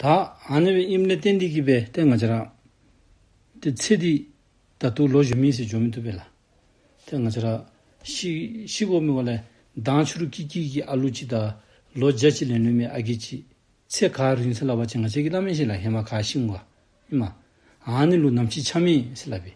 དག། ཨ་ནེ་བའི་ཨིམ་ལེ་ཏན་ཏི་ཀི་པའི་སྟེང་ང་ཅི་རག། དེ་ཚེ་འདི། ད་དུ་ལོ་གཞོན་མིན་ཟེར་འཇོག་མི་ཐུབ་པས་ལ། དེ་ང་ཅི་རག། ཤི། ཤི་གོ་མི་བ་ལེ། མདང་ཆུ་རུ་ཀི་ཀི་ཀི་ཨ་ལུ་ཅི་ད། ལོ་བརྒྱ་ཅི་ལེན་ལུས་མེད་ཨ་གི་ཅི། ཚེ་ག་རིང་ཚེ་ལ་བ་ཅི་ང་ཅི་གི་ལ་མེན་ཤི་ལ་ཧེ་མ་ག་ཤིང་བ། ཨ་ནེ་ལུ་ནམ་ཤི་ཆ་མེད་ཤི་ལ་བི།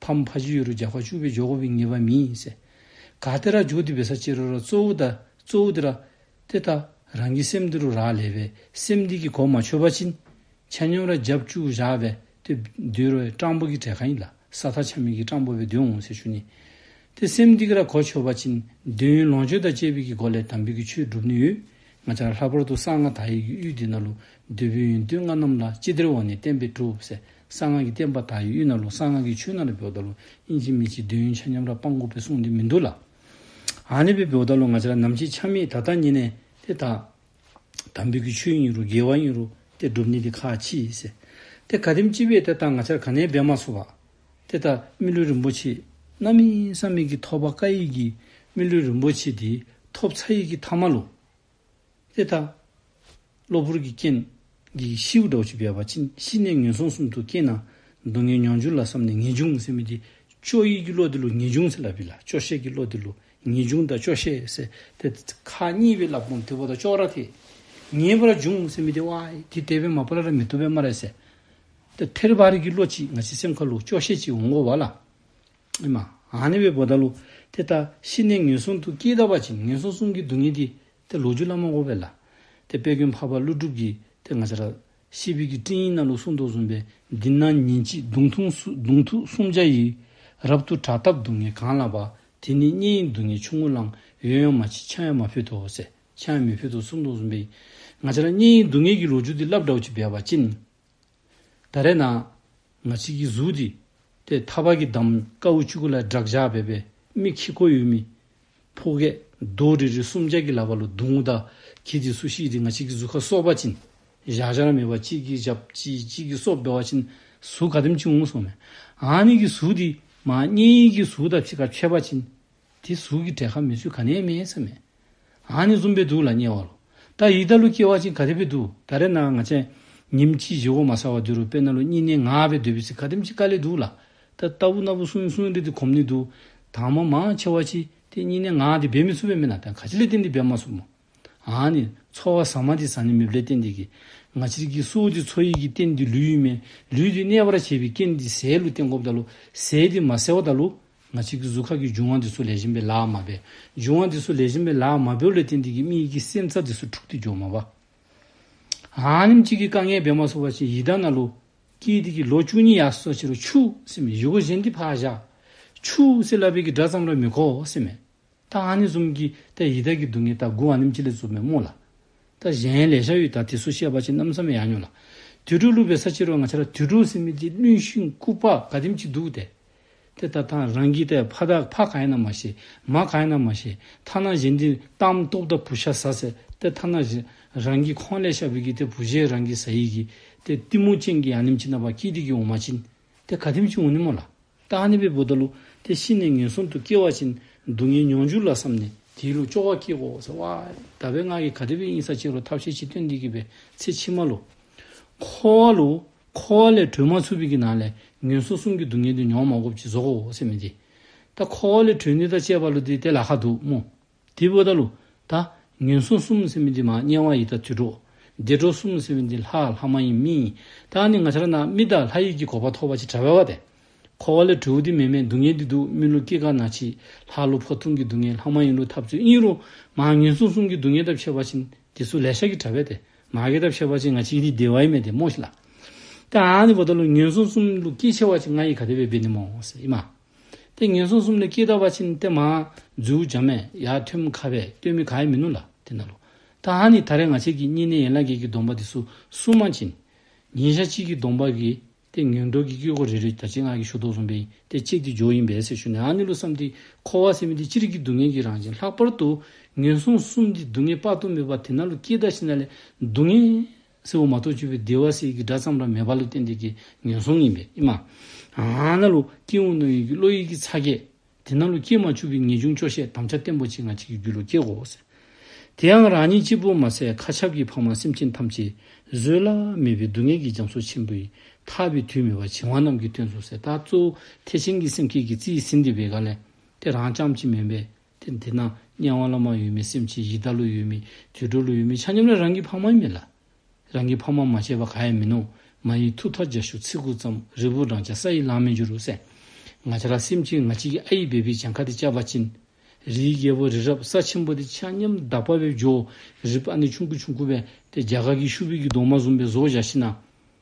ཕ་མ་ཕ་ཇི་ཡོད་རུ་རྒྱག་པ་ཆུ་བོའི་ཇོ་གོ་བའི་ངེས་པ་མིན་ཡིན་ཟེར། ག་དེ་ར་འཇུག་འདི་བས་ས་ཅི་རོ་ར་གཙོ་བོ་དང་གཙོ་བོ་འདི་ར། དེ་ལྟ། རང་གི་སེམས་འདི་རུ་རག་ལས་པས་སེམས་འདི་གི་གོ་མ་ཆོད་པ་ཕྱིན། ཆ་སྙོམས་ར་རྒྱབ་བཅུག་བཞག་པས་དེ་འདུལ་བའི་སྤྲང་པོ་གི་གྲས་གང་ཡིན་ལ་ས་ཐག་ཆ་མེད་ཀྱི་སྤྲང་པོ་བས་འདུལ་འོང་ཟེར་ཞུ་ནི། དེ་སེམས་འདི་གི་ར་གོ་ཆོད་པ་ཕྱིན་འདོད་ཡོན་ལོངས་སྤྱོད་དང་བཅས་པའི་གི་སྒོ་ལས་དམ་པའི་གི་ཆོས་སྒྲུབ་ནི་ཡོད། ང་ཅག་ལྷག་པར་དུ་གསང་སྔགས་དག་ཡིག་གི་དབུས་འདི་ན་ལུགས་འདོད་བོན་ཡོན་བདུད་ལྔ་རྣམས་ལ་ཅི་བདེར་འོང་ནས་བསྟན་པས་གྲུབ་ཟེར། གསང་སྔགས་ཀྱི་བསྟན་པ་དག་ཡིད་གཡོས་ན་ལོ་གསང་སྔགས་ཀྱི་ཆོས་ནང་ལ་བོད་བདག་ལོ་དབྱིན་ཇི་མི་ཇི་འདོད་ཡོན་ཆ་མཉམ་ར་སྤང་དགོས་པའི་གསུང་འདི་མི་འདུག་ལ། ཨ་ནེ་པའི་བོད་བདག་ལོ་ང་ཅི་ར་ནམ་ཅི་ཆ་མེད་ད་ལྟ་ཉེ་ནས་དེ་དག། དམ་བོད་ཀྱི་ཆོས་ཡིན་རུ་རྒྱལ་བ་ཡིན་རུ་དེ་སྒྲུབ་ནི་དེ་ཁ་ཕྱི་ཡིན་ཟེར། དེ་ག་དེམ་ཅི་བས་དེ་དག་ང་ཅར་ག་ནའི་འབད་མ་སོ་བ། དེ་ལྟ་སྨིན་ལུས་རིན་པོ་ཆེས་རྣམ་གཡེང་བསམ་མེད་ཀྱི་ཐོབ་པ་བཀའ་ཡིག་གིས་སྨིན་ལུས་རིན་པོ་ཆེ་དེའི་ཐོབ་ཚ་ཡིག་གི་ཐ་མ་ལོ། ཨེ་ཐ། གློ་བུར་གྱི་རྐྱེན་གྱིས་ཤི་བོ་འདྲ་བོ་ཞིག་བས་པ་ཕྱིན་ཤི་ནས་ངན་སོང་གསུམ་དུ་སྐྱེས་ན། སྡུག་བསྔལ་མྱོང་འགྱུར་ལ་བསམ་ནས་ངེས་འབྱུང་སེམས་ཀྱིས་ཅོ་ཡིག་གི་བློ་དེ་ལུགས་ངེས་འབྱུང་ཚེ་ལ་བི་ལ་ཅོ་ཤེས་ཀྱི་བློ་དེ་ལུགས་ངེས་འབྱུང་དང་ཅོ་ཤེས་སེ་ཐེ་ཁ་གཉིས་བི་ལ་བུམ་དེ་བོ་དང་ཅོ་ར་དེ་ངེས་པར་འབྱུང་སེམས་དེ་ཝ་དེ་དེ་བས་མ་བི་ལ་ར་མི་དོ་བས་མ་རེ་སེ་ཐེ་ཐེར་བ་རིག་གི་བློ་གཅིག་ང་ཅི་སེམས་ཁ་ལུགས་ཅོ་ཤེས་གཅིག་འོང་གོ་བ་ལ། ཨེ་མ། ཨ་ནེ་བའི་བུ་ད་ལོ། དེ་ལྟ། ཤི་ནས་ངན་སོང་དུ་སྐྱེས་ད་བ་ཅིག་ངན་སོང་གསུམ་གྱི་སྡུག་བསྔལ་གྱིས། དེ་ལོ་རྒྱུས་བླ་མ་འོ་བེ་ལ། དེ་དཔལ་ཀུན་འཕགས་པ་ཀླུ་སྒྲུབ་ཀྱིས་དེ་ང་ཅ་ར། ཤི་བི་ཀྱི་སྤྲིང་ཡིག་སྣ་ལུགས་སུ་མདོ་གསུངས་པས། འདི་ན་ཉིན་གཅིག་གདུང་ཐུགགདུང་ཐུག་སུམ་བརྒྱ་ཡི། རབ་ཏུ་དྲག་སྟབས་སྡུག་བསྔལ་གང་ལ་བ། དེ་ནི་གཉེན་ཡིན་སྡུག་བསྔལ་ཆུང་ངུ་བླངས། ཡོན་ཡང་མ་བྱས་ཕྱག་ཡང་མ་ཕུལ་དོ་ཟེར། ཕྱག་ཡང་མི་ཕུལ་དོ་ཟེར་མདོ་གསུངས་པས། ང་ཅ་ར། གཉེན་ཡིན་སྡུག་བསྔལ་གྱི་ལོ་རྒྱུས་འདི་རླབས་དྲག་ཅིག་སྦས་པ་ཅི། ད་རེས་ན། ང་གཅིག་གིས་གཟུགས་འདི། དེ་མཐའ་བར་གྱི་འདམ་ཀ་དབུ་ཆུ་ཀུ་ལ་བསྒྲགས་བཞག་བས་པའི་མིག་ཁྱི་ཁོ་ཡུལ་མི། ཕོ་སྐད། རྡོ་རི་རི་གསུམ་ལྕགས་ཀྱི་ལ་བ་ལོ་དུང་ངུ་ད་གི་དེ་སུ་ཞིག་གིས་ང་གཅིག་གི་གཟུགས་ཁ་སོག་བ་ཅིན། བཞག་བྱར་མེད་པ་གཅིག་གིས་བཞག་ཅིག་གཅིག་གིས་སོག་བེ་བ་ཅིན་གཟུགས་ཁ་དེམ་ཅིག་ངུ་སོང་མེད། ཨ་ནི་གི་གཟུགས་འདི། མ་གཉིས་གི་གཟུགས་ད་ཕྱི་ཁ་ཆོད་བ་ཅིན། དེ་གཟུགས་ཀྱི་འབྲས་ཁ་མི་ཆུ་ག་ནས་སྨིན་ས་མེད། ཨང་ནི་བཙུམ་པའི་དུག་ལ་བསྙལ་བ་ལོ། ད་ཡིད་ད་ལུ་སྐྱེ་བ་ཅིང་ག་རེ་བའི་དུག་ད་རེ་ན་ང་ཅན། ཉིམ་ཅིག་བཞི་བོ་མ་ས་བ་དུ་རུ་པེ་ན་ལུ་གཉིས་ནས་ང་བའི་བདུད་བི་སི་ག་དེམ་ཅིག་ཀ་ལའི་དུག་ལ། ད་ལྟ་བུ་ན་བུ་སུན་སུན་རི་དི་གོམ་ནི་དུག། དང་མ་མང་ཆེ་བ་ཅི་དེ་གཉིས་ནས་ང་དེ་བེ་མི་ཚུ་བེ་མི་ན་ད་ག་ཅི་ལས་དེ་འདི་བེ་མ་སུ་མོ། ཨཱ་ནི། ཚོར་བ་ཟ་མ་དེ་ཟ་ནི་མེད་པའི་རྟེན་འདི་ཀྱི། ང་ཕྱིར་གྱི་གསོ་བོ་དེ་ཚོར་ཡིད་ཀྱི་རྟེན་འདི་ལུས་ཡུལ་མེད་ལུས་འདི་གནས་པར་བྱེད་པའི་རྐྱེན་འདི་ཟས་ལུས་རྟེན་གོབ་ད་ལོ་ཟས་འདི་མ་བསལ་བ་ད་ལོ། ང་ཕྱིར་གྱི་གཟུགས་ཁ་གི་འབྱུང་བ་འདི་སུ་ལས་གཞན་པའི་ལག་མ་བས་འབྱུང་བ་འདི་སུ་ལས་གཞན་པའི་ལག་མ་བས་ལུས་རྟེན་འདི་ཀྱི་མིག་གི་སེམས་ཚ་འདི་སུ་འཁྲུགས་འདི་འཇོག་མ་བ། ཨཱ་ནི་ཕྱིར་གྱི་དཀའ་ངལ་བས་མ་གསོ་བ་ཞིག་ཡིད་ད་ན་ལོ། སྐྱེས་འདི་ཀྱི་ལོ་བཅུ་གཉིས་ཡར་སོ་ཕྱི་རུ་ཆུགས་སེམས་མེད་ཡུ་གུ་གཞན་འདི་ཕར་བཞག། ཆུགས་སེ་ལ་བས་ཀྱི་སྒྲ་ཙམ་ལ་མི་གོ་སེམས་མེད། ཏཱ་ཨ་ནི་གསུམ་གྱི་ཏཱ་ཡི་དྭགས་ཀྱི་སྡུག་བསྔལ་ཏཱ་དགུ་བ་ནིམ་ཅི་ལས་རྩུབ་མའི་སྨུག་ལ། ཏཱ་གཞན་ལས་ཤ་ཡུས་དྭགས་དེ་སུ་ཤེས་པ་ཅི་རྣམ་བསམ་ཡང་མྱོང་ལ། དུས་དྲུག་བསླུ་བའི་ས་ཕྱི་རོལ་ང་ཆ་ལ་དུས་དྲུག་སེམས་མེད་ཀྱི་བླུན་ཤིང་རྐུབ་བག་ག་དིམ་གྱིས་འདུག་སྟེ། དེ་ལྟར་ད་རང་གིས་ཏཱའི་ཕ་དྭགས་ཕ་ག་ཡིན་ནམ་མ་ཤེས་མ་ག་ཡིན་ནམ་མ་ཤེས་ཐ་ན་གཞན་དེའི་གཏམ་རྟོག་ཏཱ་བུ་ཤ་ཟ་ཟེར་ཏེ་ཐ་ན་རང་གིས་ཁོང་ལས་ཤ་བུད་ཀྱི་ཏཱ་བུ་ཞེས་རང་གིས་ཟ་ཡི་གིས་ཏཱའི་གཏི་མུག་ཅན་གྱི་ཡང་ནིམ་ཅི་རྣམ་པ་ཀིས་ཏི་ཀི་འོ་མ་བྱིན། ཏེ་ག་ཐིམ་ཅུང་ནི་མོ་ལ། རྟགས་ནི་བེ་བོ་ད་ལུ། དེ་ཤི་ནས་ངན་སོང་དུ་སྐྱེ་བ་བཞིན་སྡུག་བསྔལ་མྱོང་འགྱུར་ལ་བསམས་ནས། དེའི་ལུགས་ལྕོག་བ་སྐྱེས་གོ། ཟེར་བ། ད་བའི་སྔགས་ཀྱི་ག་དེ་བའི་དབྱིངས་ས་ཆེ་རུ་ཐབས་ཤེས་ཅི་སྟོན་འདི་གི་བའི་ཚེ་ཕྱི་མ་ལུ། འཁོར་བ་ལུ། འཁོར་བ་ལས་གྲོལ་མ་ཚུགས་པའི་གི་ནང་ལས་ངན་སོང་གསུམ་གྱི་སྡུག་བསྔལ་དུ་མྱོང་མ་གོ་བཅས་ཟོ་གོ། ཟེར་མི་དེ། ད་འཁོར་བ་ལས་གྲོལ་ནི་ད་བཅས་པ་ལུ་དེ་དེ་ལ་ཁ་འདུག་མོ། དེ་བས་ད་ལོ། ད། ངན་སོང་གསུམ་ཟེར་བའི་འདི་མ་རྙེད་བ་ཡི་ད་དུད་འགྲོ། བདེ་འགྲོ་གསུམ་ཟེར་བའི་འདི་ལྷ་ལྷ་མ་ཡིན་མི་ཡིན། ད་ནི་ང་ཆར་ན་རྨི་ད་ལྷ་ཡིད་ཀྱི་གོ་བ་ཐོག་བ་ཅི་དྲ་བས་བ་དེ། འཁོར་བ་ལས་གྲོལ་བོ་འདི་མེད་མེད་སྡུག་བསྔལ་འདི་སྡུག་སྨིན་ལོ་སྐྱེ་རྒ་ན་འཆི་ལྷ་ལོ་ཕོ་ཐུང་གི་སྡུག་བསྔལ་ལྷ་མ་ཡིན་ལོ་ཐབས་ཚུལ་གཉིས་རོ། མ་ངན་སོང་གསུམ་གྱི་སྡུག་བསྔལ་ད་ཕྱེ་བ་ཆིན་དེ་སུ་ལས་ཤ་ཀི་དྲ་བས་དེ། མ་གི་ད་ཕྱེ་བ་ཆིན་ང་ཆི་ཡི་འདི་བདེ་བ་ཡིན་མེད་དེ་མོ་ཤི་ལ། ད་ནི་བ་ད་ལོ་ངན་སོང་གསུམ་ལུ་སྐྱེ་ཆེ་བ་ཆིན་ང་ཡི་ག་དེ་བས་བས་ནི་མོ་སི་ཡི་མ། ཏིང་ངེ་འཛིན་གསུམ་ནི་ཀི་ཏཱ་བ་ཅི་ནི་ཏེ་མ། རྫིའུ་འཇམ་མས་ཡ་ཐུན་མི་ཁ་བས་ལྟོས་མི་ག་ཡེ་མི་ནུ་ལ་དེ་ན་ལོ། ཏཱ་ཧ་ནི་ད་རེ་ང་བྱེད་ཀྱི་གཉིས་ནི་ཡན་ལག་བརྒྱད་ཀྱི་སྡོམ་པ་དེ་སུ་གསུམ་མ་གཅིག་ནི། ཉིན་ཞག་གཅིག་གི་སྡོམ་པ་གི་ཏེ་ངན་འགྲོ་གི་དཀྱིལ་འཁོར་རེ་རེ་དར་ཅིག་སྔགས་ཀྱི་ཞུ་དོགས་གསུམ་པས་ཏེ་གཅིག་ཏེ་སྦྱོར་ཡིན་པས་སེ་ཞུ་ནི་ཨ་ནི་ལུ་བསམ་སྟེ་འཁོར་བ་སེ་མི་ཏེ་ཅི་རིགས་ཀྱི་སྡུག་བསྔལ་གྱི་རང་བཞིན་ལྷག་པར་དུ་ངན་སོང་གསུམ་སྟེ་སྡུག་བསྔལ་དཔག་ཏུ་མེད་པ་དེ་ན་ལོ་ཀི་ཏཱ་ཤི་ན་ལས་སྡུག་བསྔལ། སྲིད་འོག་མ་ཐོག་བཅུ་པའི་སྡེ་བ་སྲིད་ཀྱི་སྒྲ་ཙམ་ར་མེད་པ་ལུས་རྟེན་འདས་ཀྱི་ངན་སོང་ཡིན་པས་ཨི་མ། ཨ་ན་ལུ་ཀྱེ་འོ་ན་ཡུལ་གྱི་བློ་ཡིད་ཀྱི་ཚ་ཁྱེད། དེ་ན་ལུ་ཀྱེ་མ་ཆུབ་པའི་ངེས་འབྱུང་ཆོག་ཤེས་དམ་བཅའ་བརྟན་པོ་གཅིག་ང་གཅིག་གི་རྒྱུད་ལུ་ཀྱེ་གོ། དེའང་རང་ཉིད་གཅིག་པུ་མ་ཟད་མཁའ་ཁྱབ་ཀྱི་འཕགས་མ་སེམས་ཅན་ཐམས་ཅད་བཟོད་བླ་མེད་པའི་སྡུག་བསྔལ་གྱི་རྒྱ་མཚོ་ཆེན་པོའི་ཐར་པའི་དུས་མེད་པར་བྱིང་བ་རྣམས་ཀྱི་དོན་གཙོ་བོ་ཟད་ད་གཙོ་བོ་ཐེག་ཆེན་གྱི་སེམས་ཁྱེད་ཀྱི་རྩིའི་ཟིན་འདི་བས་ག་ལས་དེ་རང་ཅམ་ཅིག་མིན་པས། དེ་འདི་ན་དམྱལ་བ་བླ་མ་ཡོད་མེད་སེམས་ཅན་ཡི་དྭགས་ལུས་ཡོད་མེད་དུད་འགྲོ་ལུས་ཡོད་མེད་ཆ་མཉམ་ལ་རང་གི་འཕགས་མ་ཡིན་མིན་ལ། རང་གི་འཕགས་མ་མ་བྱས་པ་ག་ཡང་མིན་ནོ། མ་ཡིན་ཐུགས་ཐག་རྒྱ་ཞུགས་ཚིག་གུག་ཙམ་རིལ་བུ་བགྲང་བྱ་ས་ཡི་ལམ་མི་འགྱུར་རོ་གསལ། ང་བྱ་ར་སེམས་ཅན་ང་གཅིག་གི་ཨ་ཡིག་འབེབས་པའི་བྱང་ཁ་དེ་བཅའ་བ་སྤྱིན། རིའི་རྒྱལ་པོ་རི་རབ་ས་ཆེན་པོ་དེ་ཆ་མཉམ་བདག་པ་བའི་ཇོ་རི་པ་ནི་ཆུང་ཁུ་ཆུང་ཁུ་བས་དེ་རྒྱ་གར་གྱི་ཤུ་བི་གི་གདོང་མ་ཟུམ་པའི་བཟོ་བཞག་ཤི་ན།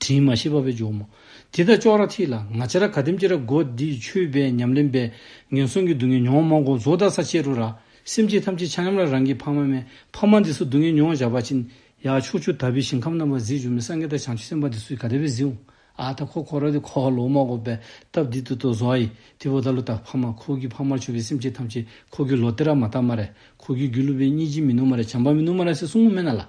དྲི་མ་ཤེས་པ་པོས་འཇོམས་མོ། དེ་ལྟར་ཅོག་ར་ཐིག་ལ་ང་ཅི་ར་ག་ཏིམ་ཅི་ར་སྒོ་འདིས་ཆུད་པའི་ཉམས་ལེན་པས་ངན་སོང་གི་སྡུག་བསྔལ་མྱོང་མང་ཀུན་རྫོགས་བདག་ས་བཅད་དྲུག་ར་སེམས་ཅན་ཐམས་ཅད་ཆགས་ཉམས་ལ་རང་གི་ཕ་མ་མེད་ཕ་མ་འདི་སུ་སྡུག་བསྔལ་མྱོང་བཞག་པ་ཅི། ཡང་ཕྱོགས་བཅུ་དག་པའི་ཞིང་ཁམས་རྣམ་པར་གཟིགས་འཇོམས་མི་སངས་རྒྱས་དང་བྱང་ཆུབ་སེམས་དཔའ་འདི་སུ་ཡི་ག་དད་པས་གཟིགས། ཨ་ད་ཁོ་ཁོ་ར་དི་ཁོ་ཨ་ལོ་མ་སྒོ་པའི་སྟབས་འདི་དུ་ཏོ་ཟོ་ཨ་ཡི་དི་བོ་ད་ལོ་ད་ཕ་མ་ཁོ་གི་ཕ་མར་ཆུད་པའི་སེམས་ཅན་ཐམས་ཅད་ཁོ་གི་ལོ་ཏི་ར་མ་ཏཱ་མ་རེ་ཁོ་གི་རྒྱུ་ལུ་བའི་གཉིས་ཅི་མི་ནུ་མ་རེ་བྱམས་པ་མི་ནུ་མ་ར་སེ་སུ་ངུ་མེ་ན་ལ།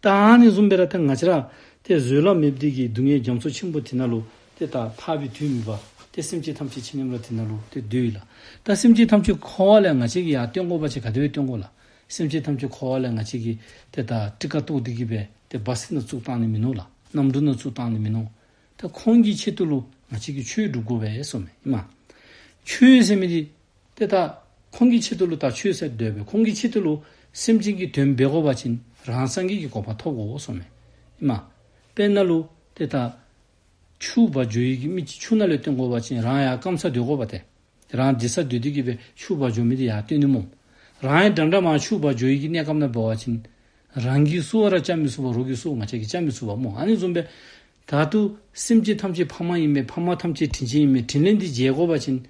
ཏཱ་ཨ་ནི་ཟུམ་པའི་ར་ཐེ་ང་ཅི་ར། ཏེ་བཟོད་ལ་མེད་བདུད་ཀྱི་སྡུག་བསྔལ་རྒྱ་མཚོ་ཆེན་པོ་དེ་ན་ལུ། ཏེ་ཏཱ་ཐར་པའི་དུས་མི་བ། ཏེ་སེམས་ཅན་ཐམས་ཅད་ཆེ་སྙོམས་ལ་དེ་ན་ལུ། ཏེ་བདུད་ཡིད་ལ། ཏཱ་སེམས་ཅན་ཐམས་ཅད་འཁོར་བ་ལས་ང་ཅི་གི་ཡང་སྟོན་འཁོར་བ་ཅི་ག་དེ་བས་སྟོན་འཁོར་ལ། སེམས་ཅན་ཐམས་ཅད་འཁོར་བ་ལས་ང་ཅི་གི། ཏེ་ཏཱ་ཏྲི་ཀ་ཏུ་ཏི་ཀི་བས། ཏེ་བ་སི་ན་གཙུག་བཏང་ནི་མི་ནོར་ལ། རྣམ་བཀྲུ་ན་གཙུག་བཏང་ནི་མི་ནོར། ཏེ་ཁོང་གི་ཆེད་དུ་ལུ། ང་ཅི་གི་ཆོས་བསྒྲུབ་དགོས་པས་སོ། མ། ཆོས་སེམས་མི་དེ། དེ་དག་ཁོང་གི་ཆེད་དུ་ལུས་དག་ཆོས་ཟད་འདོད་པས་ཁོང་གི་ཆེད་དུ་ལུས་སེམས་ཅན་གྱི་དོན་འབེལ་གོ་བ་བྱིན་རང་སངས་རྒྱས་ཀྱི་གོ་བ་ཐོབ་གོ་སོ། མ། དཔེར་ན་ལུས་དེ་དག། ཕྱུག་བ་ཇོ་ཡིད་ཀྱི་མིག་གིས་ཕྱུག་ན་ལས་སྟོན་གོ་བ་བྱིན་རང་ཡང་སྐམ་ས་འདོད་གོ་བ་སྟེ། རང་འདི་ས་འདོད་དེ་གྱིས་པས་ཕྱུག་བ་ཇོ་མི་དེ་ཡང་སྟོན་ནི་མོ། རང་ཡང་འདྲ་འདྲ་མང་ཕྱུག་བ་ཇོ་ཡིད་ཀྱི་གནས་སྐམ་ན་འབེལ་བ་བྱིན། རང་གིས་བསུ་བ་ར་བཅའ་མི་བསུ་བ་རོ་གིས་བསུ་བ་མ་བྱས་ཀྱིས་བཅའ་མི་བསུ་བ་མོ་ཨ་ནི་འཛུམ་པས། བདག་ཏུ། སེམས་ཅན་ཐམས་ཅད་ཕ་མ་ཡིན་པས་ཕ་མ་ཐམས་ཅད་དྲིན་ཅན་ཡིན་པས་དྲིན་ལས་འདིས་རྗེས་བསྒོ་བ་བྱིན།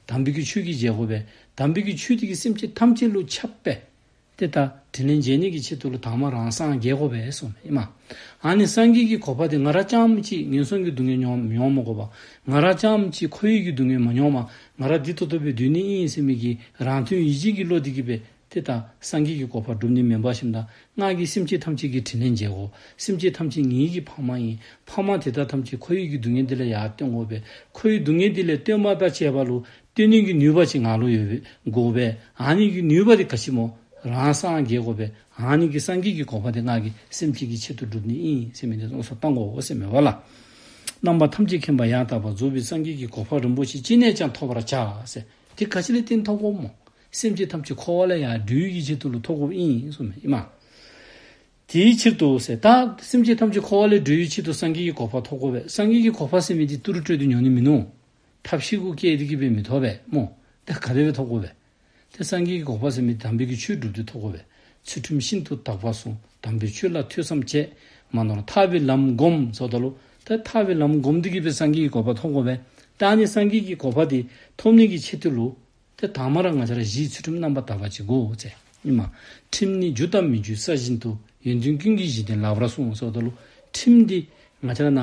དམ་པའི་ཆོས་ཀྱིས་རྗེས་བསྒོ་བས་དམ་པའི་ཆོས་འདི་གིས་སེམས་ཅན་ཐམས་ཅད་བསླུ་ཁྱབ་པས། འདི་ལྟར་དྲིན་ལས་འཇལ་ནུས་ཀྱི་ཆེད་དུ་ལོ་དྭངས་མ་རང་སངས་རྒྱས་བསྒོ་བས་སོ། ཨཱ་ནི་སངས་རྒྱས་ཀྱི་གོ་བ་དེ་ང་ར་ཅང་མི་ཅིག་ངན་སོང་གི་སྡུག་བསྔལ་མྱོང་མྱོང་མོ་བསྒོ་བ། ང་ར་ཅང་མི་ཅིག་ཁོ་ཡིད་ཀྱི་སྡུག་བསྔལ་མ་མྱོང་བ་ང་ར་འདི་ཐོ་ཐོ་བའི་དུས་ནི་དབྱིངས་ཡེ་སེམས་མིག་གི་རང་དོན་ཡིད་བྱེད་ཀྱི་བློ་འདི་གི་བས། དེ་དག་སངས་རྒྱས་ཀྱི་གོ་འཕང་བསྒྲུབ་ནི་མེ་འབར་བཞིན་དང་སྔགས་ཀྱིས་སེམས་ཅན་ཐམས་ཅད་ཀྱི་དྲིན་ལན་འཇལ་གོ། སེམས་ཅན་ཐམས་ཅད་ཉིད་ཡིད་ཀྱི་འཕགས་མ་ཡིན། འཕགས་མ་དེ་དག་ཐམས་ཅད་ཁོ་ཡིད་ཀྱི་སྡུག་བསྔལ་འདི་ལ་ཡར་བསྟོད་འགོ་བས་ཁོ་ཡི་སྡུག་བསྔལ་འདི་ལས་བསྟོད་མ་དག་བྱས་པ་ལོ། བསྟོད་ནུས་ཀྱི་ནུས་པ་ཅི་ང་ལོ་ཡོད་པས་འགོ་བས་ཨང་ཉིད་ཀྱི་ནུས་པ་དེ་ག་ཕྱིན་མོ། རང་སངས་རྒྱས་གོ་བས་ཨང་ཉིད་ཀྱི་སངས་རྒྱས་ཀྱི་གོ་འཕང་དེ་སྔགས་ཀྱིས་སེམས་ཅན་གྱི་ཆེད་དུ་བསྒྲུབ་ནི་ཨིན་སེམས་མེད་དེ་སོགས་སོ་བཏང་གོ་སེམས་མེད་པ་ལ། རྣམ་པ་ཐམས་ཅད་མཁྱེན་པ་ཡང་དག་པར་རྫོགས་པའི་སངས་རྒྱས་ཀྱི་གོ་འཕང་རིན་པོ་ཆེ་ཅི་ནས་ཀྱང་ཐོབ་པར་བྱ། དེ་ག་ཕྱིན་ལས་རྟེན་མཐོང་གོ། སེམས་ཀྱི་ཐབས་ཀྱི་འཁོར་བ་ལ་ཡང་སྦྲུལ་གྱི་ཕྱིར་དུ་ལུས་ཐོག་ཁུབ་ཨིནས྄། དེའི་ཕྱིར་དུ་ཟེར། ད་སེམས་ཀྱི་ཐབས་ཀྱི་འཁོར་བ་ལས་སྦྲུལ་གྱི་ཕྱིར་དུ་སངས་རྒྱས་ཀྱི་གོ་འཕགས་ཐོབ་གོ་བས་སངས་རྒྱས་ཀྱི་གོ་འཕགས་སེམས་མེད་དེ་ཏུ་རུ་སྤྲོད་དུ་མྱོང་ནི་མིན་ནོ། ཐབས་བཞི་ཀུན་སྐྱེད་དེ་སྐྱེས་པས་མི་ཐོབ་པས་སྨོ། ད་ག་རེ་བས་ཐོབ་གོ་བས། དེ་སངས་རྒྱས་ཀྱི་གོ་འཕགས་སེམས་མེད་དེ་དམ་པའི་གི་ཆོས་བསྒྲུབས་ཏེ་ཐོབ་གོ་བས་ཚུལ་ཁྲིམས་ཤིན་ཏུ་དག་པ་བསྲུང་དམ་པའི་ཆོས་ལ་ཐོས་བསམ་བྱས་མ་ནོར་ཐར་བའི་ལམ་བསྒོམ་ཟོ་ད་ལོ། ད་ཐར་བའི་ལམ་བསྒོམ་དུ་སྐྱེས་པས་སངས་རྒྱས་ཀྱི་གོ་འཕགས་ཐོབ་གོ་བས་ད་ནི་སངས་རྒྱས་ཀྱི་གོ་འཕགས་དེ་ཐོབ་ནས་ཀྱི་ཕྱིར་དུ་ལུས། དེ་དག་མ་ར་ང་ཅར་བཞིའི་ཚུལ་ཁྲིམས་རྣམ་པ་དག་པ་གཅིག་གོ། ཅེས་སྨྲས་མ། ཁྲིམས་ནི་རྒྱུ་དང་མི་རྒྱུའི་ས་བཞིན་དུ་ཡོན་ཏན་ཀུན་གྱི་གཞི་བདེན་ལགས་པར་གསུངས་སོ། ལུས་ཁྲིམས་འདི། ང་ཅར་ན།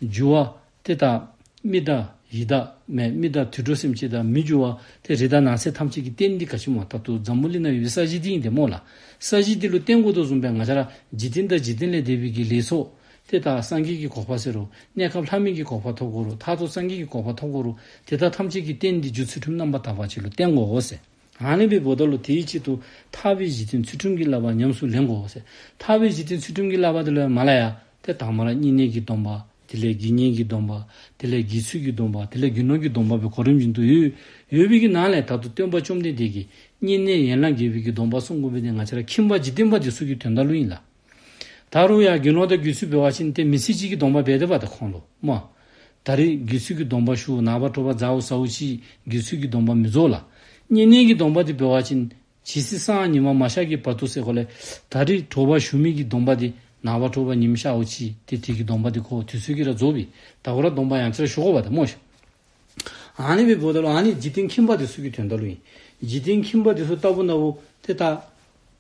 རྒྱུ་བ། དེ་དག། མི་དག། ཡིད་དག། མེ་མི་དག་དུད་འགྲོ་སེམས་ཅན་དག་མི་རྒྱུ་བ། དེ་རི་དང་ནགས་ཚལ་ཐམས་ཅད་ཀྱི་རྟེན་འདི་ག་ཕྱི་མ་ལྟར་དུ་འཛམ་བུ་གླིང་ན་ཡོད་པའི་ས་བཞི་འདི་ཡིན་ཏེ་སྨྲོས་ལ། ས་བཞི་འདི་ལུས་རྟེན་སྒོ་དང་གསུམ་པའི་ང་ཅར། འཇིག་རྟེན་དང་འཇིག་རྟེན་ལས་འདས་པའི་ཀྱི་ལས་ཚོགས། དེ་དག་སངས་རྒྱས་ཀྱི་གོ་བ་ཟེར་རོ། གནས་སྐབས་ལྷ་མིན་གྱི་གོ་བ་ཐོབ་གོ་རུ་ཐག་ཚོགས་སངས་རྒྱས་ཀྱི་གོ་བ་ཐོབ་གོ་རུ་དེ་དག་ཐམས་ཅད་ཀྱིས་རྟེན་འདི་རྒྱུ་ཚུལ་ཁྲིམས་རྣམ་པར་དག་པར་བྱས་ལུགས་བསྟན་གོ་ཟེར། ཨཱ་ལེན་པའི་བུ་ད་ལོ་དེའི་ཆེད་དུ་ཐར་བའི་གཞི་རྟེན་ཚུལ་ཁྲིམས་ཀྱི་བསླབ་པ་ཉམས་སུ་ལེན་གོ་ཟེར། ཐར་བའི་གཞི་རྟེན་ཚུལ་ཁྲིམས་ཀྱི་བསླབ་པ་དེ་ལས་མ་ལ་ཡ། དེ་དག་མ་ལ་གཉིས་གནས་ཀྱི་སྡོམ་པ། དེ་ལས་དགེ་བསྙེན་གྱི་སྡོམ་པ། དེ་ལས་དགེ་ཚུལ་གྱི་སྡོམ་པ་དེ་ལས་རྒྱུ་ནོར་གྱི་སྡོམ་པ་པོའི་གོ་རིམ་བཞིན་དུ་ཡོད། ཡོད་པས་ཀྱི་ནང་ལས་དག་ཏུ་སྟོན་པ་བཅོམ་ལྡན་འདས་ཀྱིས་གཉིས་གནས་ཡན་ལག་བརྒྱད་པོས་ཀྱི་སྡོམ་པ་གསུངས་དགོས་པས་ནི་ང་ཅི་ར་ཁྱིམ་པ་འཇིག་རྟེན་པ་འདི་སུ་ཀྱི་དོན་དག་བློ་ཡིན་ལ། ད་རུང་ཡང་རྒྱུ་ནོར་དང་རྒྱུ་སུལ་འབེལ་བ་བཞིན་སྟེ་མི་ཚེ་གཅིག་གི་སྡོང་པ་འབེལ་འདོད་པ་དང་ཁོང་ལོ་རྨོ། ད་རེས་རྒྱུ་སུལ་གྱི་སྡོང་པ་ཞུ་ནག་པ་དྲོ་བ་རྫ་འུ་ཟ་འུ་ཞིག་རྒྱུ་སུལ་གྱི་སྡོང་པ་མི་རྫོགས་ལ། གཉིད་ནད་ཀྱི་སྡོང་པ་དེ་འབེལ་བ་བཞིན། ཇི་སྲིད་སང་ཉི་མ་མ་ཤར་གྱི་བར་དུ་ཟེར་གོ་ལེ། ད་རེས་དྲོ་བ་ཞུ་མིག་གི་སྡོང་པ་དེ་ནག་པ་དྲོ་བ་ཉིན་ཤར་འུ་ཕྱིས་ཏེ་དེ་གི་སྡོང་པ་དེ་ཁོ་དུས་ཚོད་ཀྱི་ར་རྫོགས་པའི་ད་གོ་ར་སྡོང་པ་ཡང་ཅི་ར་ཞུ་གོ་བ་དང་རྨོ། ཨ་ནེ་བའི་བུ་ད་ལོ་ཨ་ནེ་འཇིག་རྟེན་ཁྱིམ་པ་དེ་སུ་གི་དོན་ད་ལོ་ཡིན། འཇིག་རྟེན་ཁྱིམ་པ་དེ་སུ་ལྟ་བུ་ན་བུ་དེ་ལྟ།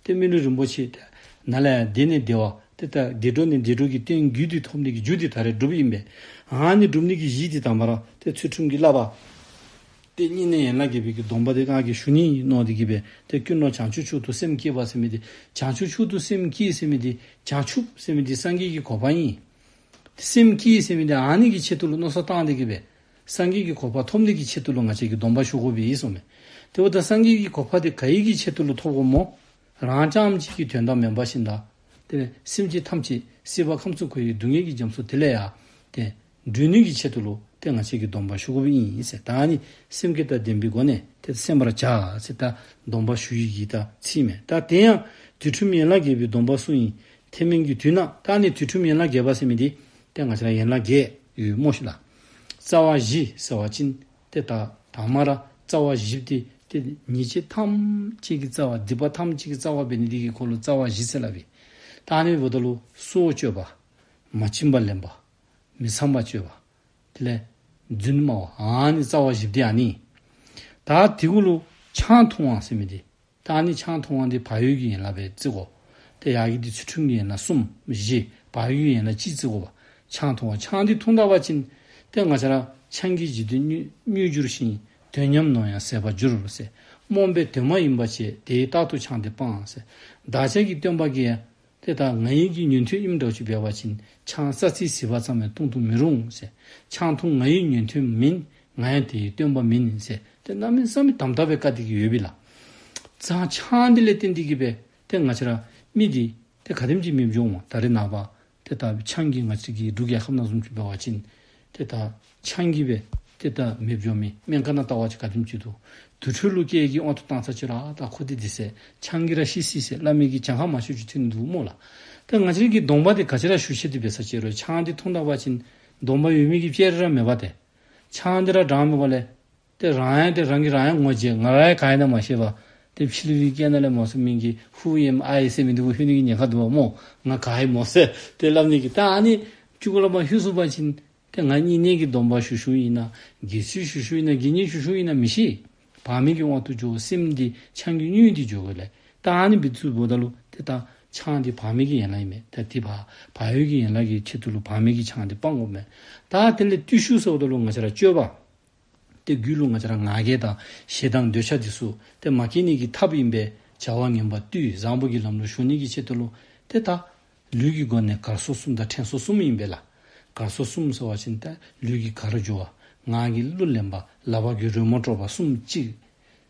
སྟེ་སྨིན་གྲོལ་རིན་པོ་ཆེ་དེ་ན་ལས་འདས་ནས་བདེ་བ་དེ་ལྟར་བདེ་འགྲོ་ནས་བདེ་འགྲོ་གྱི་རྟེན་རྒྱུད་དེ་ཐོབ་ནས་ཀྱི་རྒྱུ་དེ་ད་རེས་སྒྲུབ་ཡིན་པས། འང་ནི་སྒྲུབ་ནས་ཀྱི་གཞི་དེ་དང་བར་དེ་ཚུལ་ཁྲིམས་ཀྱི་བསླབ་པ། དེ་གཉིས་ནི་ཡན་ལག་བརྒྱད་པའི་ཀྱི་སྡོམ་པ་དེ་སྔགས་ཀྱི་ཞུ་སྙིང་ཡིན་ནོ་དེ་སྐྱེས་པས་དེ་སྐྱུར་ནོ་བྱང་ཆུབ་ཕྱོགས་དུ་སེམས་བསྐྱེད་པ་སེམས་མེད་དེ་བྱང་ཆུབ་ཕྱོགས་དུ་སེམས་བསྐྱེད་སེམས་མེད་དེ་བྱང་ཆུབ་སེམས་མེད་དེ་སངས་རྒྱས་ཀྱི་གོ་འཕང་ཡིན། དེ་སེམས་བསྐྱེད་སེམས་མེད་དེ་འང་ནི་ཀྱི་ཆེད་དུ་ལ་ནོ་ས་བཏང་དེ་སྐྱེས་པས། སངས་རྒྱས་ཀྱི་གོ་འཕགས་ཐོབ་ནུས་ཀྱི་ཆེད་དུ་ལོ་ང་ཆད་ཀྱི་སྡོམ་པ་ཞུ་དགོས་པའི་ཡིད་སོ་མེད་དེ་བོ་ད་སངས་རྒྱས་ཀྱི་གོ་འཕགས་དེ་ག་ཡིག་གི་ཆེད་དུ་ལ་ཐོབ་གོ་མོ། རང་ཅག་འམ་ཅིག་གི་དོན་དམ་མེ་འབར་བཞིན་དང། དེ་བས་སེམས་ཅན་ཐམས་ཅད་སྲིད་པ་ཁམས་གསུམ་ཁོལ་བའི་སྡུག་བསྔལ་གྱི་རྒྱ་མཚོ་དེ་ལས་ཡང་དེ་སྒྲོལ་ནུས་ཀྱི་ཆེད་དུ་ལོ་དེ་ང་ཆད་ཀྱི་སྡོམ་པ་ཞུ་དགོས་པའི་ཡིན་ཟེར་ད་ནི་སེམས་བསྐྱེད་དང་ལྡན་པའི་སྒོ་ནས་དེ་ད་སེམས་པར་བྱ་ཟེར་ད་སྡོམ་པ་ཞུ་ཡི་གི་ད་ཚིག་མེད་ད་དེ་ཡང་དུས་ཁྲིམས་ཡན་ལག་བརྒྱད་པའི་སྡོམ་པ་སུ་ཡིན་དེ་མིན་གྱི་དུས་ན་ད་ནི་དུས་ཁྲིམས་ཡན་ལག་བརྒྱད་པ་སེམས་མེད་དེ་ད་ང་ཆད་ལ་ཡན་ལག་བརྒྱད། ཡུལ་དངོས་བཞི་ལ། རྩ་བ་བཞི་ཟེར་བ་ཅི་སྟེ། དག་དང་མ་ར་རྩ་བ་བཞི་སྟེ། དེ་ཉིད་ཅི་ཐམས་ཅད་ཀྱི་རྩ་བ་སྡིག་པ་ཐམས་ཅད་ཀྱི་རྩ་བ་བས་ནི་སྡིག་གི་འཁོར་ལོ་རྩ་བ་བཞི་བསལ་བས། རྟགས་ནི་བུདྡྷ་ལུགས་སོ་སྤྱོད་པ། མ་བྱིན་པ་ལེན་པ། མི་ཚངས་པ་སྤྱོད་པ། དེ་ལས། བརྫུན་སྨྲ་བ་འང་ནི་རྩ་བ་བཞི་བདེ་ཡང་ནི། དག་དེ་ཀུན་ལུགས་ཆང་འཐུང་བ་སེམས་མི་བདེ། རྟགས་ནི་ཆང་འཐུང་བ་འདི་བག་ཡོད་ཀྱི་ཡན་ལག་པའི་རྩི་གོ། དེ་ཡག་གི་འདི་ཚུལ་ཁྲིམས་ཀྱི་ཡན་ལག་གསུམ། བཞི། བག་ཡོད་ཀྱི་ཡན་ལག་སྤྱིའི་རྩི་གོ། ཆང་འཐུང་བ་ཆང་འདི་འཐུང་དག་པ་ཅན། དེ་ང་ཆ་ར། ཆང་གིས་ཇི་དུས་མྱོས་འགྱུར་ཞིང། དོན་ཉམས་ནོ་ཡང་ཟད་པར་འགྱུར། རྨོངས་པའི་དོན་མ་ཡིན་པ་བྱས། དེའི་རྟགས་ཐུག་ཆང་འདི་སྤངས། བདག་ཅག་གི་སྟོན་པ་ཀྱེ། དེ་དག་ང་ཡིན་གྱི་ཉོན་ཐོས་དབྱིབས་འདྲ་བྱུ་བས་བ་བྱིན་ཆང་རྩ་ཚིལ་ཟིལ་བ་ཙམ་ལས་བཏུང་དུ་མི་རུང། ཆང་འཐུང་ང་ཡིན་ཉོན་ཐོས་མིན། ང་ཡང་དེ་ཡི་སྟོན་པ་མིན། དེ་རྣམ་སྨིན་བསམ་མི་དམ་དག་པའི་བཀའ་འདི་གི་ཡོད་བི་ལ། ཛང་ཆང་འདི་ལས་ཏེ་འདི་གི་བས་དེ་ང་ཆེ་ར་མི་འདི། དེ་ག་དེམ་གྱིས་མི་འབྱུང་བ་ད་རི་ནག་པ། དེ་དག་བི་ཆང་གིས་ང་ཆེ་གི་འབྲུག་གཡའ་ཁབ་ནག་གསུམ་བྱུ་བས་བ་བྱིན། དེ་དག། ཆང་གིས་བས་ཏེ་བདག་མེད་བརྗོ་མི་སྨད་མཁའ་ན་ལྟ་བ་ཅི་དགའ་ཁྱིམ་གཅིག་ཏུ། དུར་ཁྲོད་ཀླུ་སྐྱེས་ཀྱིས་དབང་དུ་བཏང་ཚར་ཕྱིར་ཨ་བདག་ཁོ་དེ་འདི་ཟས་ཆང་གིས་ར་ཤི་སྲིད་ཟེར་བླ་མེད་ཀྱིས་ཆང་ཧ་མ་ཤོད་ཅིག་ཐོན་འདུག་མོ་ལ། ད་ང་ཆེན་གྱི་གདོང་པ་དེ་ག་ཅི་ར་ཞུ་ཤེས་དུས་བས་ས་བྱེ་རོའི་ཆང་དེ་འཐུང་དང་བ་ཅིན། གདོང་པ་ཡོད་མེད་ཀྱི་བཅད་རེ་ར་མེད་པ་དེ། ཆང་དེ་ར་གྲང་མེད་པ་ལས། དེ་རང་ཡང་དེ་རང་གིས་རང་ཡང་ངོ་བརྗེས་ང་ར་ཡ་ག་ཡིན་ན་མ་ཤེས་པ། དེ་ཕྱི་ལུས་ཀྱི་སྐད་ན་ལས་མོ་སེ་མིན་གྱི་ཧུའུ་ཡེ་མ་ཨ་ཡེ་སེ་མིན་དུ་གུ་ཧུའི་ནི་གི་ཉེ་ཁ་དུ་བ་མོ་ང་ག་ཡིན་མོ་སེ་དེ་བླ་མེད་ཀྱིས་ད་ཨ་ནི། བཅུ་གོ་ལ་མ་ཤུ་སུ་བ་ཅིན། དེ་ང་གཉིས་གནས་ཀྱི་སྡོམ་པ་ཞུ་ཞུ་ཡིན་ན་དགེ་ཚུལ་ཞུ་ཞུ་ཡིན་ན་དགེ་བསྙེན་ཞུ་ཞུ་ཡིན་ན་མི་ཤེས། བག་མེད་ཀྱི་དབང་དུ་འཇོག་སེམས་འདི་ཆང་གི་སྙུན་དེ་འཇོག་གི་ལས་ད་ཨ་ནི་བི་ཚུལ་བོ་ད་ལུ་དེ་ད་ཆང་དེ་བག་མེད་ཀྱི་ཡན་ལག་ཡིན་མེད་ད་དེ་བག་བག་ཡོད་ཀྱི་ཡན་ལག་གི་ཆེད་དུ་ལུ་བག་མེད་ཀྱི་ཆང་དེ་སྤང་དགོ་མེད་ད་དེ་ལས་བརྟུལ་ཞུགས་སོགས་ད་ལུ་ང་ཆ་ར་སྤྱོད་པ། སྟེ་རྒྱུད་ལུང་ང་ཅག་ང་རྒྱལ་དང་ཞེ་སྡང་འདོད་ཆགས་འཇིགས་སུག་དེ་མ་སྐྱེས་ནས་ཀྱི་ཐབས་ཡིན་པས་བྱ་བ་ངན་པ་བཏུས་བཟང་པོ་གྱི་ལམ་ལུགས་གཞུང་གནས་ཀྱི་ཆེད་དུ་བློ་དེ་དག། ལུས་ཀྱི་སྒོ་ནས་གར་སོ་གསུམ་དང་ཕྲན་སོ་གསུམ་ཡིན་པས་ལ། གར་སོ་གསུམ་ཟེར་བ་བཞིན་ཏེ་ལུས་ཀྱི་གར་སྦྱོར་བ། ངག་གི་གླུ་ལེན་པ། ལ་བག་གི་རོལ་མོ་སྤྲོ་བ་གསུམ་གཅིག།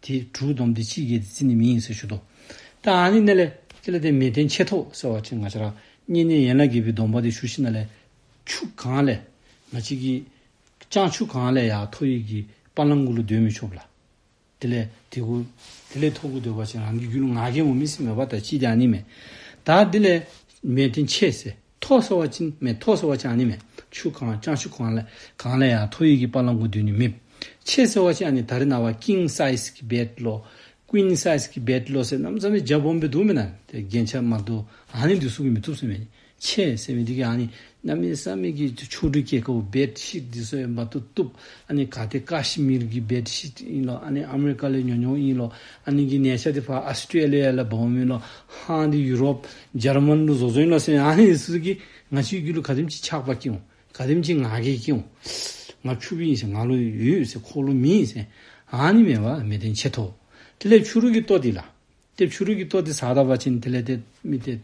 དེ་དྲུག་བསྡོམས་ཏེ་ཕྱིས་རྒྱལ་དེ་ཚིག་ནི་མིང་ཡིན་ཟེར་ཞུ་དོ། ཏཱ་ཨཱ་ནི་གནས་ལས། ཅི་ལ་དེ་མེད་དེ་མཆེད་དོ་ཟེར་བ་ཅི་ང་ཅི་རང་ཉིད་ནི་ཡན་ལག་བརྒྱད་པའི་སྡོམ་པ་དེ་ཞུ་ཤི་ན་ལས། ཆུ་གང་ལས། མ་མཆིས་ཀྱི། ཅང་ཆུ་གང་ལས་ཡང་ཐོ་ཡིག་གི་པར་ལམ་དགུ་ལ་འདོད་མི་ཆོག་ལ། དེ་ལས། དེ་དགུ། དེ་ལས་ཐོ་དགུ་འདོད་པ་ཅི་རང་གི་རྒྱུད་ལ་ང་རྒན་མོ་མི་སྲིད་མོད་པ་དང་ཅིས་ཀྱང་ནི་མེད། ད་འདི་ལས། མེད་དེ་མཆེད་ཟེར། ཐོག་སོ་བ་ཅིན་མེད་ཐོག་སོ་བ་ཅང་ནི་མེད་ཆུ་གང་ཅང་ཆུ་གང་ལས། གང་ལས་ཡང་ཐོག་ཡུལ་གྱི་པ་ལང་གུ་དུས་ནི་མེད། ཆེ་སོ་བ་ཅང་ནི་ད་རི་ན་བ་ཀིང་སའིས་གི་བེད་བློ། Queen Size གི་བེད་བློ་སེ་རྣམས་ཙམ་ནི་རྒྱ་བོམ་པའི་དུག་མི་ན་དེ་རྒྱན་ཆ་མ་དུ་ཨ་ནི་འདི་སུ་གི་མི་ཐུབ་སེ་མེད་ནི་ཆེ་སེ་མེད་འདི་གི་ཨ་ནི་ན་མི་ས་མི་གི་ཆུ་ཆུ་གྲུ་སྐྱེ་ཁ་བུ་བེད་ཤིད་འདི་སོ་ཡ་མ་དུ་གཏུབ་ཨ་ནི་ག་དེ་ཀ་ཤི་མིར་གི་བེད་ཤིད་ཨིན་ལོ་ཨ་ནི་ཨ་མི་རི་ཀ་ལས་ཉོ་ཉོ་ཨིན་ལོ་ཨ་ནི་གི་ནས་ཆ་དེ་བྷ་ཨ་སི་ཏྲི་ཨ་ལི་ཡ་ལ་བོམ་ཨིན་ལོ་ཧང་འདི་ཡུ་རོབ། ཇར་མན་ལུགས་བཟོ་ཚོན་ལ་སོན་ཨ་ཡིན་སི་ཀི་ང་ཆུའི་རྒྱུ་ལུགས་ག་དེམ་ཆི་ཆག་པ་ཀིའོ་ག་དེམ་ཆི་ང་གེ་ཀིའོ་ང་ཆུ་བི་ཡིན་སེ་ང་ལོ་ཡུ་ཡོད་སེ་ཁོ་ལོ་མི་ཡིན་སེ་ཨ་ནི་མེ་བ་མེ་དེན་ཆེ་ཐོ་དེ་ལས་ཆུ་རུག་གི་ཏོ་དི་ལ་ཏེབ་ཆུ་རུག་གི་ཏོ་དི་ས་ད་བ་ཆིན་དེ་ལས་ཏེ་མི་ཏེ་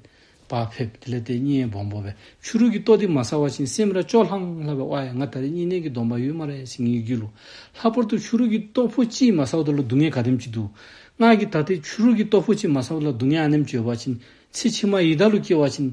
བ་ཕེབ་དེ་ལས་ཏེ་ཉི་ཡེ་བོང་བོ་བས་ཆུ་རུག་གི་ཏོ་དི་མ་ས་བ་ཆིན་སེམས་ར་ཅོ་ལྷང་ལྷ་བའི་བ་ཡ་ང་ད་རེ་གཉིས་ནན་གི་སྡོམ་པ་ཡོད་མ་རེ་སི་ངའི་རྒྱུ་ལུགས་ལྷག་པར་དུ་ཆུ་རུག་གི་ཏོ་ཕོ་ཅིའི་མ་ས་བ་ད་ལོ་སྡུག་ངའི་ག་དེམ་ཆི་འདུག། སྔགས་ཀྱི་ད་ཏེ་ཆུ་རུལ་གྱི་སྟོབས་ཕོ་ཆེ་མ་ས་བ་ལ་སྡུག་བསྔལ་ཨ་ནེམ་བཅོས་པ་བྱིན། ཚེ་ཕྱི་མ་ཡི་དྭགས་ལུས་སྐྱེ་བ་བྱིན།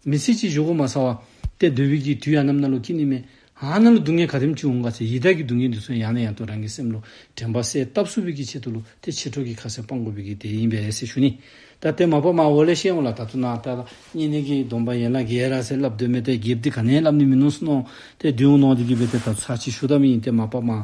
མི་ཚེ་གཅིག་བཞུགས་གོ་མ་ས་བ། ཏེ་བདུད་དབྱིག་གི་དུས་ཨ་ནེམ་སྣ་ལུག་སྐྱེ་ནི་མེད། ཨ་ནེམ་ལ་སྡུག་བསྔལ་ག་དེམ་ཅི་འོང་ག་ཚེ་ཡི་དྭགས་ཀྱི་སྡུག་བསྔལ་འདི་ཚོ་ཡང་ནས་ཡང་དུ་རང་གི་སེམས་ལུས་དྲན་པ་སའི་སྟབས་སུ་བིད་ཀྱི་ཆེད་དུ་ལུག་ཏེ་ཕྱི་དྲོ་གི་ཁ་ཟས་སྤང་དགོས་བིད་ཀྱི་དེ་ཡིན་པས་རས་སེ་ཞུ་ནི། ད་ཏེ་མ་པ་མ་འོ་ལེ་ཤེས་འོ་ལ་ད་དུ་ན་ད་ལ་གཉིས་ནི་གིས་སྡོམ་པ་ཡན་ལ་གའི་ར་སེ་ལབ་འདོད་མེད་ཏེ་གེབ་འདི་ག་ནས་ལབ་ནི་མི་ནོངས་སུ་ནོངས། ཏེ་བདུན་འོ་ནོངས་འདི་གིས་བིད་ཏེ་ད་དུ་ཚ་ཆི་ཞུ་ད་མི་ཡིན་ཏེ་མ་པ་མ།